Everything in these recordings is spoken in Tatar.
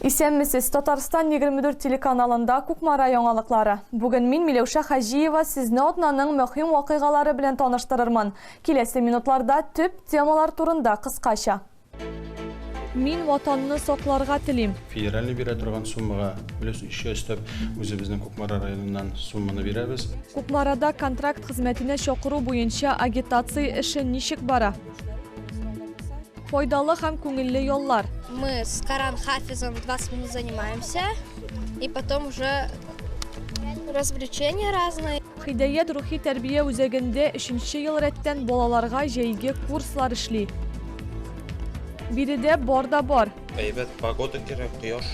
Исәнмесез, Татарстан 24 телеканалында Кукмара яңалыклары. Бүген мин Миләүшә Хаҗиева сезне атнаның мөһим вакыйгалары белән таныштырырмын. Киләсе минутларда төп темалар турында кыскача. Мин ватанны сакларга телим. Федеральный бирә торган суммага плюс еще өстәп үзебезнең Кукмара районыннан сумманы бирәбез. Кукмарада контракт хезмәтенә чакыру буенча агитация эше ничек бара? Файдалы һәм күңелле яллар. Мы с Коран Хафизом 20 минут занимаемся и потом уже развлечения разные. Хидәят рухи тәрбия үзәгендә өченче ел рәттән балаларга җәйге курслар эшли. Биредә бар да бар. Әйбәт погода кирәк, кояш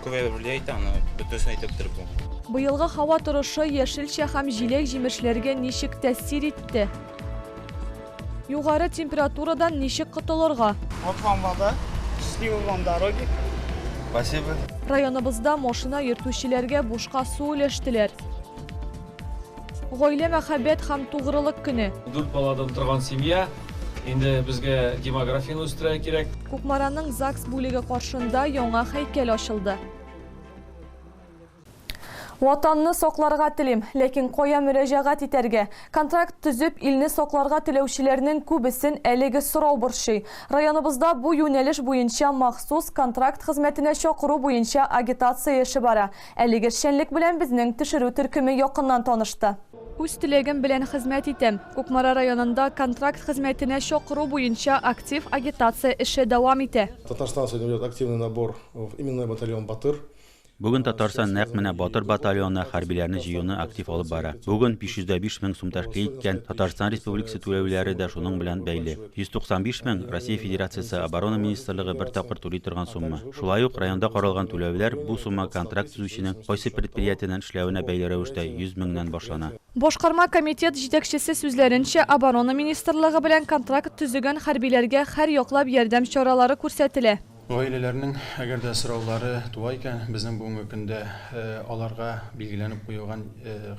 күбәеп эшли әйтә, аны бөтенесен әйтеп бетереп булмый. Быелгы һава торышы яшелчә һәм җиләк-җимешләргә ничек тәэсир итте? Югары температурадан ничек котылырга? Вот вам вода, счастливой вам дороги! Спасибо. Районыбызда машина йөртүчеләргә бушка су өләштеләр. Гаилә мәхәббәт һәм тугрылык көне. Дүрт баладан торган семья, инде безгә демографияне үстерә кирәк. Кукмараның ЗАГС бүлеге каршында яңа һәйкәл ачылды. Ватанны сакларга телим, ләкин кая мөрәҗәгать итәргә? Контракт төзеп, илне сакларга теләүчеләрнең күбесен әлеге сорау борчый. Районыбызда бу юнәлеш буенча махсус контракт хезмәтенә чакыру буенча агитация эше бара. Әлеге эшчәнлек белән безнең төшерү төркеме якыннан танышты. Үз теләгем белән хезмәт итәм. Кукмара районында контракт хезмәтенә чакыру буенча актив агитация эше дәвам итә. Татарстан сегодня ведет активный набор в именной батальон Батыр. Бүген Татарстан нәкъ менә Батыр батальоны хәрбиләрне җыюны актив алып бара. Бүген 505 мең сум тәшкил иткән Татарстан Республикасы түләүләре дә шуның белән бәйле. 195 мең, Россия Федерациясе Оборона министрлыгы бер тапкыр түли торган сумма. Шулай ук районда каралган түләүләр, бу сумма контракт төзүченең кайсы предприятиеннән эшләвенә бәйле рәвештә 100 меңнән башлана. Башкарма комитет җитәкчесе сүзләренчә, Оборона министрлыгы белән контракт төзегән хәрбиләргә һәр яклап ярдәм чаралары күрсәтелә. Гаиләләрнең, әгәр дә сораулары туа икән, безнең бүгенге көндә аларга билгеләнеп куелган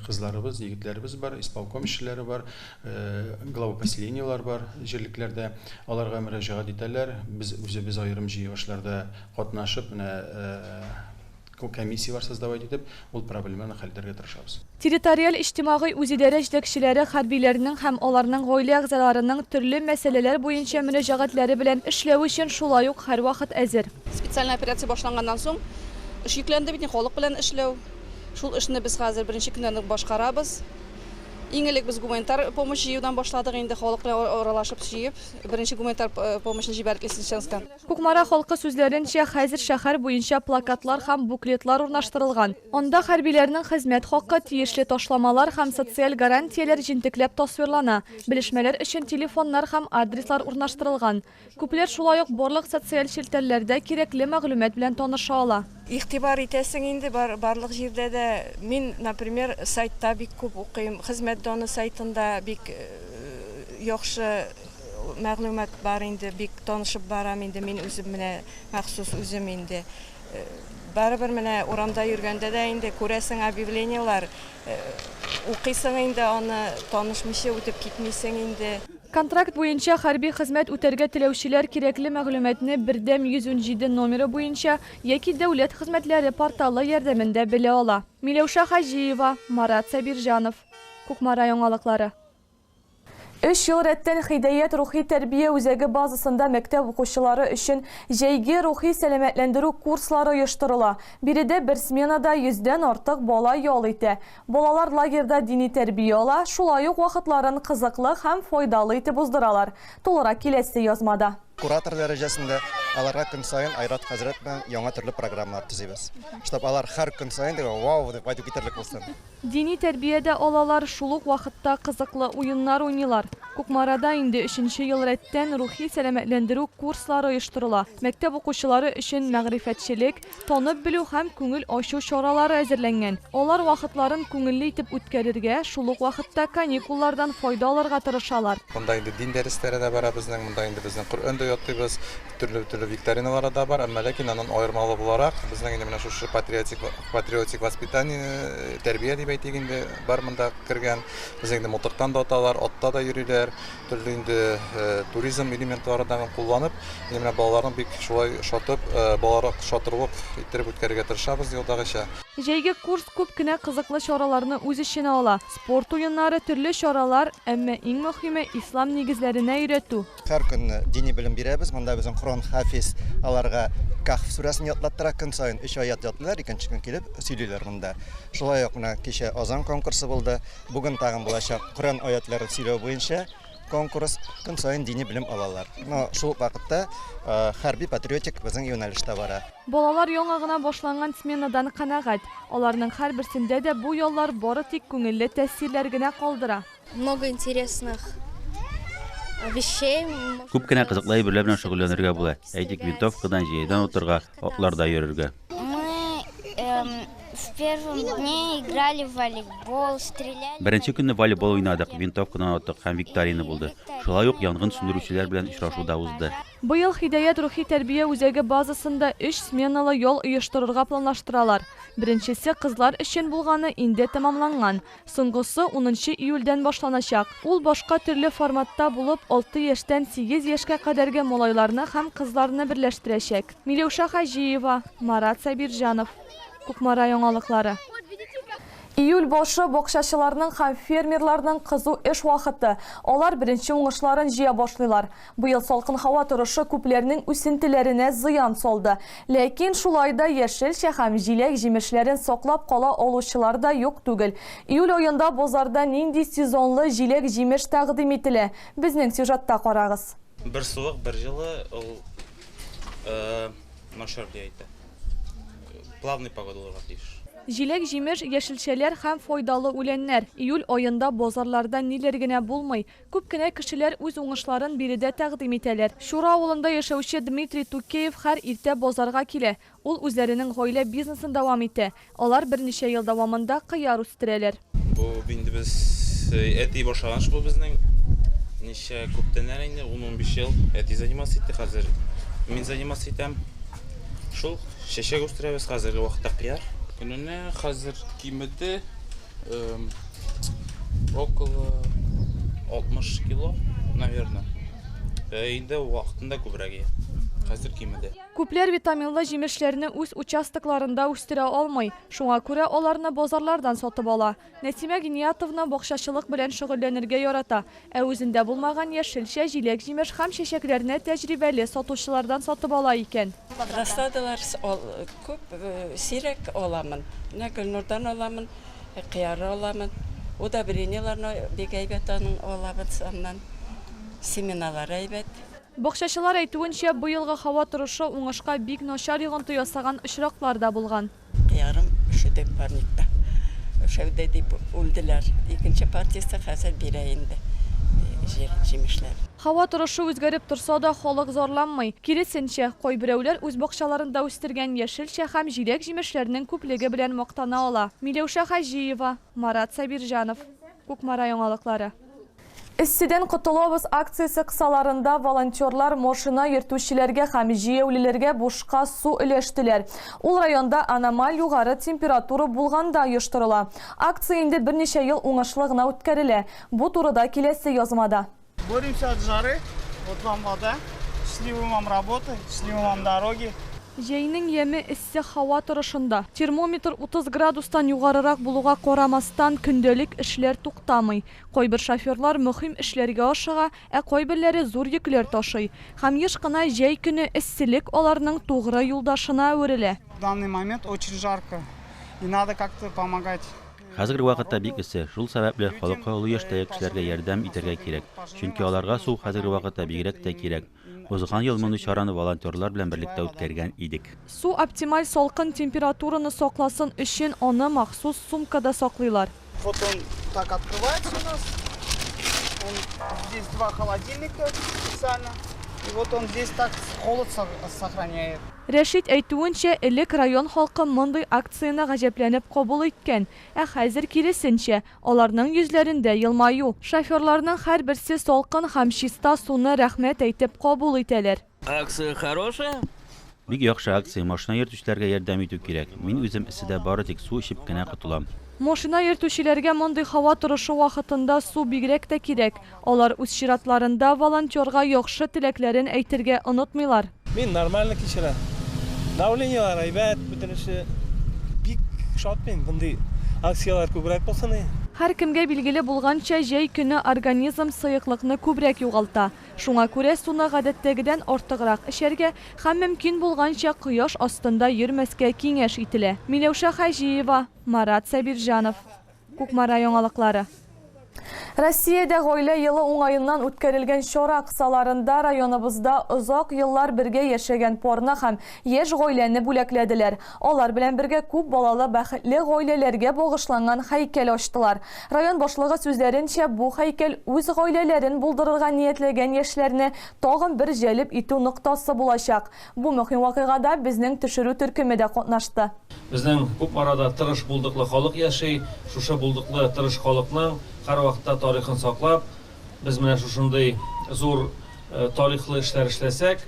кызларыбыз, егетләребез бар, исполком эшчеләре бар, глава поселениеләр бар җирлекләрдә. Аларга мөрәҗәгать итәләр. Без үзебез аерым җыелышларда катнашып, менә Күп комиссияләр создавать итеп, ул проблеманы хәл итәргә тырышабыз. Территориаль-иҗтимагый үзидарә җитәкчеләре хәрбиләрнең һәм аларның гаилә әгъзаларының төрле мәсьәләләр буенча мөрәҗәгатьләре белән эшләү өчен шулай ук һәрвакыт әзер. Специальный операция башланганнан соң эш йөкләнде бит инде, халык белән эшләү. Шул эшне без хәзер беренче көннән үк башкарабыз. Иң элек без гуманитар помощь җыюдан башладык инде, халык белән аралашып, җыеп, беренче гуманитар помощьны җибәрдек Лисичанскка. Кукмара халкы сүзләренчә, хәзер шәһәр буенча плакатлар һәм буклетлар урнаштырылган. Анда хәрбиләрнең хезмәт хакы, тиешле ташламалар һәм социаль гарантияләр җентекләп тасвирлана, белешмәләр өчен телефоннар һәм адреслар урнаштырылган. Күпләр шулай ук барлык социаль челтәрләрдә кирәкле мәгълүмат белән таныша ала. Игътибар итәсең инде бар барлык җирдә дә. Мин, например, сайтта бик күп укыйм, Хезмәт доны сайтында бик яхшы мәгълүмат бар инде, бик танышып барам инде мин үзем менә махсус үзем инде. Барыбер менә урамда йөргәндә дә инде күрәсең объявлениелар, укыйсың инде аны, танышмыйча үтеп китмисең инде. Контракт буенча хәрби хезмәт үтәргә теләүчеләр кирәкле мәгълүматны Бердәм 117 номеры буенча яки Дәүләт хезмәтләре порталы ярдәмендә белә ала. Миләүшә Хаҗиева, Марат Сабирҗанов. Кукмара яңалыклары. Өч ел рәттән Хидәят рухи тәрбия үзәге базасында мәктәп укучылары өчен җәйге рухи сәламәтләндерү курслары оештырыла. Биредә бер сменада йөздән артык бала ял итә. Балалар лагерьда дини тәрбия ала, шулай ук вакытларын кызыклы һәм файдалы итеп уздыралар. Тулырак киләсе язмада. Куратор дәрәҗәсендә аларга көн саен Айрат хәзрәт белән яңа төрле программалар төзибез, чтоб алар һәр көн саен дип вау дип кайтып китәрлек булсын. Дини тәрбия дә алалар, шул ук вакытта кызыклы уеннар уйныйлар. Кукмарада инде өченче ел рәттән рухи сәламәтләндерү курслары оештырыла. Мәктәп укучылары өчен мәгърифәтчелек, танып белү һәм күңел ачу чаралары әзерләнгән. Алар вакытларын күңелле итеп үткәрергә, шул ук вакытта каникуллардан файда алырга тырышалар. Монда инде дин дәресләре дә бара безнең, монда инде безнең Коръән дә ятыйбыз, төрле-төрле викториналары да бар, әмма ләкин аннан аермалы буларак, безнең инде менә шушы патриотик патриотик воспитание, тәрбия дип әйтик инде, бар монда кергән. Безне инде мылтыктан да аталар, атта да йөриләр. Төрле инде туризм элементларын да кулланып, ин менә балаларны бик шулай шатып, балаларак шатырлык иттереп үткәрергә тырышабыз елдагыча. Җәйге курс күп кенә кызыклы чараларны үз эченә ала, спорт уеннары, төрле чаралар, әмма иң мөхиме, ислам нигезләренә өйрәтү. Һәр көн дини белем бирәбез, монда безнең Коръән хафиз аларга Каһф сүрәсен ятлаттыра, көн саен өч аять ятлыйлар, икенче көн килеп сөйлиләр монда. Шулай ук менә кичә азан конкурсы булды. Бүген тагын булачак Коръән аятлары сөйләү буенча конкурс. Көн саен дини белем алалар. Но шул ук вакытта хәрби-патриотик безнең юнәлеш тә бара. Балалар яңа гына башланган сменадан канәгать. Аларның һәрберсендә дә бу яллар бары тик күңелле тәэсирләр генә калдыра. Много интересных вещей. Күп кенә кызыклы әйберләр белән шөгыльләнергә була. Әйтик, винтовкадан, җәядән атарга, Атларда йөрергә. Беренче көнне волейбол уйнадык, винтовкадан аттык һәм викторина булды. Шулай ук янгын сүндерүчеләр белән очрашу да узды. Быел Һидаят рухи тәрбия үзәге базасында өч сменалы ял оештырырга планлаштыралар. Беренчесе кызлар өчен булганы инде тәмамланган. Соңгысы унынчы июльдән башланачак. Ул башка төрле форматта булып, алты яшьтән сигез яшькә кадәрге малайларны һәм кызларны берләштерәчәк. Миләүшә Хаҗиева, Марат Сабирҗанов. Кукмара яңалыклары. Июль башы, бакчачыларның һәм фермерларның кызу эш вакыты. Алар беренче уңышларын җыя башлыйлар. Быел салкын һава торышы күпләрнең үсентеләренә зыян салды. Ләкин шулай да яшелчә һәм җиләк-җимешләрен саклап кала алучылар да юк түгел. Июль аенда базарда нинди сезонлы җиләк-җимеш тәкъдим ителә? Безнең сюжетта карагыз. Бер суык, бер җылы, ул начар диета. Плавный погода булырга тиеш. Җиләк-җимеш, яшелчәләр һәм файдалы үләннәр. Июль аенда базарларда ниләр генә булмый! Күп кенә кешеләр үз уңышларын биредә тәкъдим итәләр. Чура авылында яшәүче Дмитрий Тукеев хәр иртә базарга килә. Ул үзләренең гаилә бизнесын дәвам итә. Алар берничә ел дәвамында кыяр үстерәләр. Бу инде без әти башлаган эш бу безнең. Ничә күптән әле инде, ун-унбиш ел әти заниматься итте, хәзер мин заниматься итәм. Шул, чәчәк үстерәбез, хәзерге вакытта кыяр. Көненә хәзер кимеде. эм, около 60 кило, наверное. Э, инде вакытында күбрәк ия. Хәзер кимеде. Күпләр витаминлы җимешләрне үз участокларында үстерә алмый, шуңа күрә аларны базарлардан сатып ала. Нәсимә Гениятовна бакчачылык белән шөгыльләнергә ярата. Ә үзендә булмаган яшелчә, җиләк-җимеш һәм чәчәкләрне тәҗрибәле сатучылардан сатып ала икән. Рассадалар күп, сирәк аламын. Менә Гөлнурдан аламын, кыяры аламын. Удобрениеләрне бик әйбәт аның алабыз аннан. Семеналары әйбәт. Бакчачылар әйтүенчә, быелгы һава торышы уңышка бик начар йогынты ясаган очраклар да булган. Кыярым өшеде парникта. Өшәүдә дип үлделәр. Икенче партиясе хәзер бирә инде җир, җимешләр. Һава торышы үзгәреп торса да, халык зарланмый. Киресенчә, кайберәүләр үз бакчаларында үстергән яшелчә һәм җиләк-җимешләрнең күплеге белән мактана ала. Миләүшә Хаҗиева, Марат Сабирҗанов. Кукмара яңалыклары. Эсседән котылабыз акциясе кысаларында волонтерлар машина йөртүчеләргә һәм җәяүлеләргә бушка су өләштеләр. Ул районда аномаль югары температура булганда оештырыла. Акция инде берничә ел уңышлы гына үткәрелә. Бу турыда киләсе язмада. Боремся от жары, вот вам вода, счастливы вам работы, счастливы вам дороги. Җәйнең яме эссе һава торышында. Термометр 30 градустан югарырак булуга карамастан, көндәлек эшләр туктамый. Кайбер шоферлар мөһим эшләргә ашыга, ә кайберләре зур йөкләр ташый. Һәм еш кына җәй көне эсселек аларның тугры юлдашына әверелә. В данный момент очень жарко и надо как-то помогать. Хәзерге вакытта бик эссе, шул сәбәпле халыкка олы яшьтәге кешеләргә ярдәм итәргә кирәк, чөнки аларга су хәзерге вакытта бигрәк тә кирәк. Узган ел мондый чараны волонтерлар белән берлектә үткәргән идек. Су оптималь салкын температураны сакласын өчен аны махсус сумкада саклыйлар. Вот он так открывается у нас. Он здесь два холодильника специально. И вот он здесь так холод сохраняет. Рәшит әйтүенчә, элек район халкы мондый акцияне гаҗәпләнеп кабул иткән, ә хәзер киресенчә, Аларның йөзләрендә елмаю. Шоферларның һәрберсе салкын һәм чиста суны рәхмәт әйтеп кабул итәләр. Акция хорошая. Бик яхшы акция, машина йөртүчеләргә ярдәм итү кирәк. Мин үзем эсседә бары тик су эчеп кенә котылам. Машина йөртүчеләргә мондый һава торышы вакытында су бигрәк тә кирәк. Алар үз чиратларында волонтерга яхшы теләкләрен әйтергә онытмыйлар. Мин нормально кичерәм. Давлениеләр әйбәт, бөтенесе. Бик шат мин, мондый акцияләр күбрәк булсын иде. Һәркемгә билгеле булганча, җәй көне организм сыеклыкны күбрәк югалта. Шуңа күрә суны гадәттәгедән артыграк эчәргә һәм мөмкин булганча кояш астында йөрмәскә киңәш ителә. Миләүшә Хаҗиева, Марат Сабирҗанов. Кукмара яңалыклары. Россиядә Гаилә елы уңаеннан үткәрелгән чара кысаларында районыбызда озак еллар бергә яшәгән парны һәм яшь гаиләне бүләкләделәр. Алар белән бергә күп балалы бәхетле гаиләләргә багышланган һәйкәл ачтылар. Район башлыгы сүзләренчә, бу һәйкәл үз гаиләләрен булдырырга ниятләгән яшьләрне тагын бер җәлеп итү ноктасы булачак. Бу мөһим вакыйгада безнең төшерү төркеме дә катнашты. Безнең күп арада тырыш булдыклы халык яши. Шушы булдыклы тырыш халыкның һәрвакытта тарихын саклап, без менә шушындый зур тарихлы эшләр эшләсәк,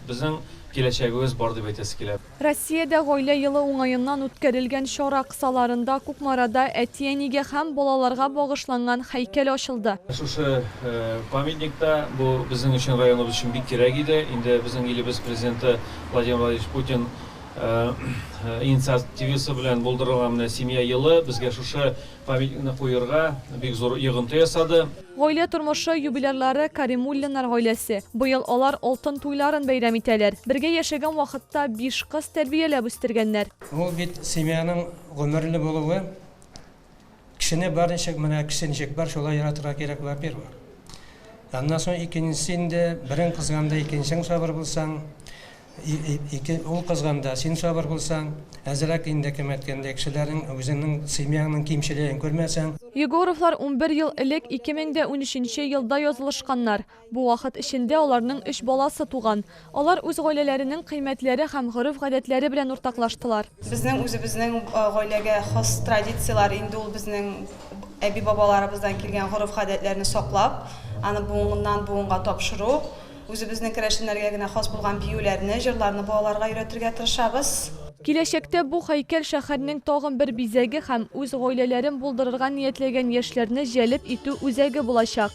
безнең киләчәгебез бар дип әйтәсе килә. Россиядә Гаилә елы уңаеннан үткәрелгән чара кысаларында Кукмарада әти-әнигә һәм балаларга багышланган һәйкәл ачылды. Шушы Памятник та, бу безнең өчен, районыбыз өчен бик кирәк иде. Инде безнең илебез Президенты Владимир Владимирович Путин инициативасы белән булдырылган менә Семья елы безгә шушы памятникны куерга бик зур йогынты ясады. Гаилә тормышы юбилярлары Каримуллиннар гаиләсе. Быел алар алтын туйларын бәйрәм итәләр. Бергә яшәгән вакытта биш кыз тәрбияләп үстергәннәр. Ул бит семьяның гомерле булуы. Кешене бар ничек менә кеше ничек бар шулай яратырга кирәк во первых. Аннан соң икенчесе инде берең кызганда икенчең сабыр булсаң, ике ул кызганда син сабыр булсаң, әзрәк инде кем әйткәндәй кешеләрнең үзеңнең семьяңның кимчелеген күрмәсәң. Егоровлар унбер ел элек, ике мең дә унөченче елда язылышканнар. Бу вакыт эчендә аларның өч баласы туган. Алар үз гаиләләренең кыйммәтләре һәм гореф-гадәтләре белән уртаклаштылар. Безнең үзебезнең гаиләгә хас традицияләр инде ул безнең әби-бабаларыбыздан килгән гореф-гадәтләрне саклап, аны буыннан-буынга тапшыру. Үзебезнең керәшеннәргә генә хас булган биюләрне, җырларны балаларга өйрәтергә тырышабыз. Киләчәктә бу һәйкәл шәһәрнең тагын бер бизәге һәм үз гаиләләрен булдырырга ниятләгән яшьләрне җәлеп итү үзәге булачак.